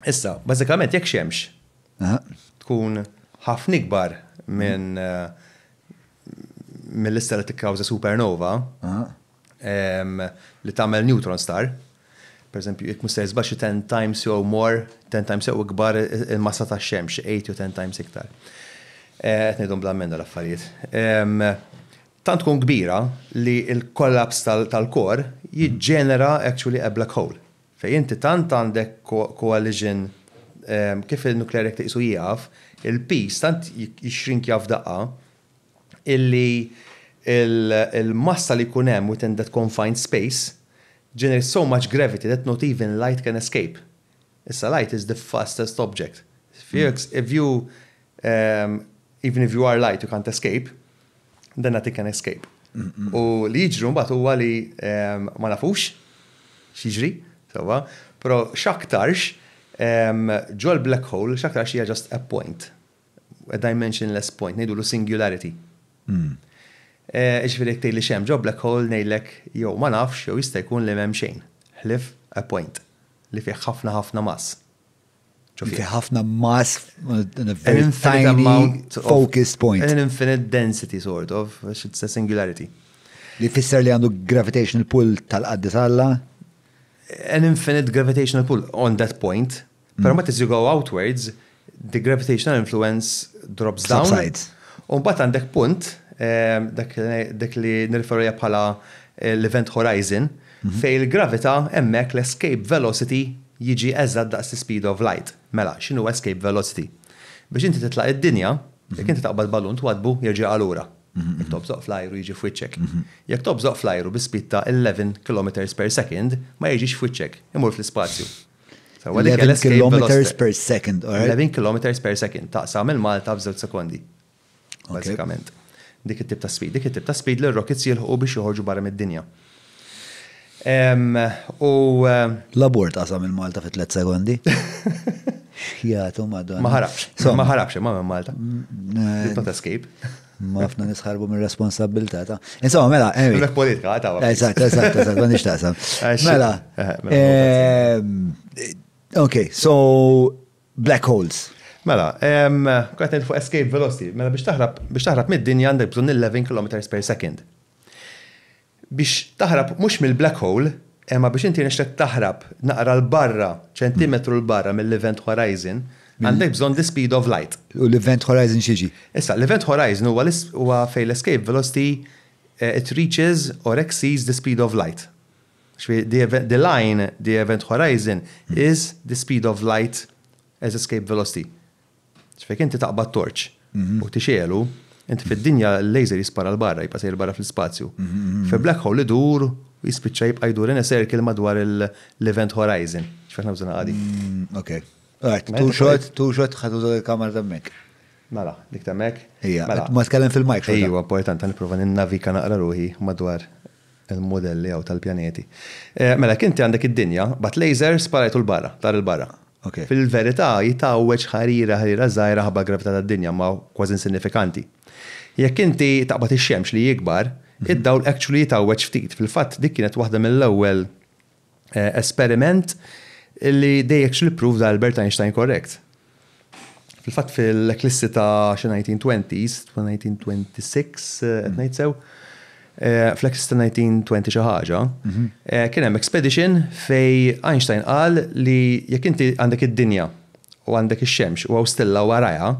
Issa, bażikament jekk xemx tkun ħafna ikbar minn mill-lista li tikkawża supernova li tagħmel neutron star, per eżempju, jekk muster żbax 10 times jew more, 10 times jew ikbar il-massa ta' xemx, 8 jew 10 times iktar. Eh, qed ngħidhom bl-ammenda l-affarijiet. Tant tkun kbira li l-kollaps tal-kor jiġġenera actually a black hole. Fejn inti tant għandek coalition kif in-nukleari jekk tiqisu jieqaf, il-piż tant jixxrinkja f'daqqa illi l-massa li jkun hemm within that confined space generates so much gravity that not even light can escape. Issa light is the fastest object. If you Even if you are light you can't escape, then that you can escape. U li jiġru mbagħad huwa li ma nafux x'jiġri, sewwa, però x'aktarx ġol black hole x'aktarx hija just a point, a dimensionless point, ngħidulu singularity. Hmm. Eh, ġifiri jek li xem ġo black hole nejlek jew ma nafx jew jista' jkun li m'hemm xejn. Ħlif a point li fih ħafna ħafna mass. Ġofi ħafna mass, an infinite amount of focused point. An infinite density sort of, it's a singularity. Li fisser li għandu gravitational pull tal-qaddis Alla? An infinite gravitational pull on that point, pero mm. ma as you go outwards, the gravitational influence drops down. Subsides. Un bat għandek punt, eh, dak li nirferu bħala eh, l-event horizon, Fejn il-gravità, hemmhekk l-escape velocity jiġi eżatt daqs l-ispeed of light. Mela, x'inhu escape velocity? Biex inti titlaq id-dinja, jekk inti taqbad balun twaddbu jerġa' jaqa' lura. Jekk tobżoq fl-ajru jiġi f'wiċċek. Jekk tobżoq fl-ajru bi speed ta' 11 kilometres per second ma jiġix f'wiċċek, imur fl-ispazju. Sewwa dik hija l-escape velocity. 11 kilometres per second, alright. 11 kilometres per second, taqsam il-Malta f'żewġ sekondi. Bażikament. Dik it-tip ta' speed. Dik it-tip ta' speed li r-rockets jilħu biex joħorġu barra mid-dinja. U. L-abort qasam il-Malta fi tliet sekondi. Jgħatu madonna. Ma ħarabx. Ma ħarabx imma minn Malta. Did not escape. Ma fna nisħarbu minn responsabilta ta' Insomma, mela, emi. Mek politika, ta' għabba. Eżat, eżat, eżat, ma nixtaqsam. Mela. Ok, so black holes. Mela, qed ngħid fuq escape velocity, mela biex taħrab biex taħrab mid-dinja għandek bżonn 11 kilometers per second. Biex taħrab mhux mill-black hole, imma biex inti nixlek taħrab naqra l barra, ċentimetru l barra mill-event horizon, għandek bżonn the speed of light. U l-event horizon xieġi? Issa, l-event horizon huwa fej l-escape velocity it reaches or exceeds the speed of light. Ġifieri, the event, the line, the event horizon, is the speed of light as escape velocity. Ġifieri, jekk inti taqbad torċ u tixegħelu, inti fid-dinja l-laser jispara l-barra, jibqa' sejjer barra fl-ispazju. Fi black hole idur u jispiċċa jibqa' jdur in a circle madwar l-event horizon. Ġifieri aħna użajna qadi. Ok. Right, two shot, two shot, ħadd uża l-kamera temmek. Mela, dik temmek. Ejja, ma tkellem fil-mic. Ejja, importanti, nipprova ninnavika naqra ruħi madwar. Il-mudelli hawn tal-pjaneti. Mela jekk inti għandek id-dinja, bgħatt laser, sparajtu 'l barra, tar 'il barra. Fil-verità hi tgħawweġ ħarira ħarira żgħira ħabba l-gravità tad-dinja imma kważi insinifikanti. Jekk inti taqbad ix-xemx li jikbar, id-dawl actually jitgħawweġ ftit. Fil-fatt dik kienet waħda mill-ewwel. esperiment li dejjek xli pprovda Albert Einstein korrekt. Fil-fatt fil-eklissi ta' xi 1920s, 1926, qed ngħid sew, eh, fl-eklissi ta' 1920 xi ħaġa, mhm. eh, kien hemm expedition fej Einstein qal li jekk inti għandek id-dinja u għandek ix-xemx u għaw stella warajha,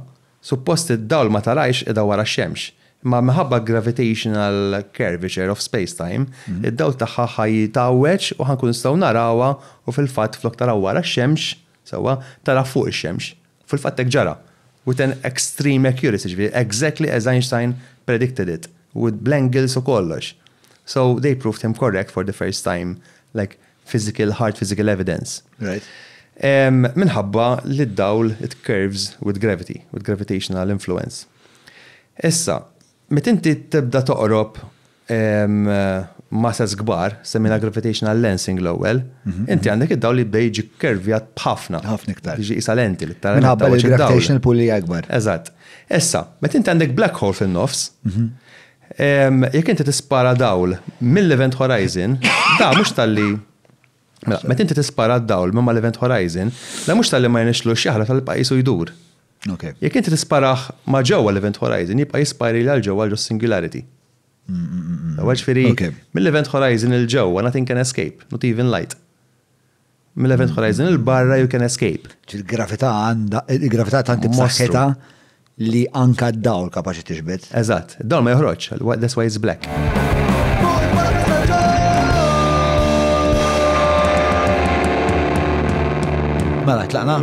Suppost id-dawl ma tarajhx qiegħda wara x-xemx, imma minħabba gravitational curvature of spacetime, id-dawl tagħha ħa jitgħawweġ u ħa nkunu nistgħu narawha u fil-fatt flok taraha wara x-xemx, sewwa, taraha fuq ix-xemx. U fil-fatt hekk ġara. With an extreme accuracy, jiġifieri exactly as Einstein predicted it, with bl-angles u kollox. So they proved him correct for the first time, like, physical, hard physical evidence. Right. Minħabba li d-dawl it curves with gravity, with gravitational influence. Issa, met inti tibda toqrob masas gbar, semina gravitational lensing l-ewwel, mhm, inti mhm. għandek id-dawl li bda jiġi kervjat b'ħafna. Ħafna iktar. Jiġi isa lenti li tara. Minħabba li gravitational pull li akbar. Eżatt. Issa, met inti għandek black hole fin-nofs, mhm. Jekk inti tispara dawl mill-Event Horizon, da mhux talli Mela, meta inti tispara d-dawl minn mal-Event Horizon, da mhux talli ma jenixlux jaħla tal-pajjiż u jdur. Jekk inti tisparah ma' ġewwa l-Event Horizon jibqa' jispari għal ġewwa ġo Singularity. Ġifieri, mill-Event Horizon 'il ġewwa nothing can escape, not even light. Mill-Event Horizon il-barra you can escape. Il-gravità għandha, il-gravità tant imsaħħitha li anka d-dawl kapaċi tixbet. Eżatt, d-dawl ma joħroġ, that's why it's black. Mela, tlaqna?